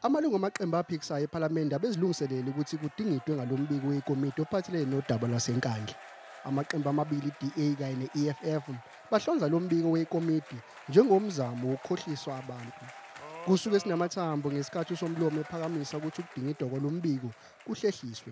Amalungu amaqembu aphikisayo ePhalamende abezilungiselele ukuthi kudingidwe ngalo mbiko wekomiti ophathelene nodaba lwaseNkandla. Amaqembu amabili iDA kanye ne-EFF bahlonza lo mbiko wekomiti njengomzamo wokukhohliswa abantu. Kusuke sinamathambo ngesikhathi uSomlomo ephakamisa ukuthi ukudingidwa kwalo mbiko kuhlehliswe.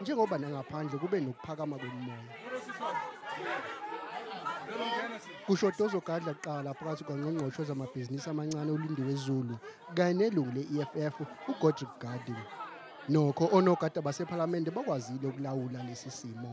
njengoba nangaphandle kube nokuphakama komoya kushoda ozogadla kuqala phakathi kwangqongqoshe zamabhizinisi amancane ulindiwe zulu kanye nelungu le-eff ugodrick garden nokho onogada basephalamende bakwazile ukulawula lesi simo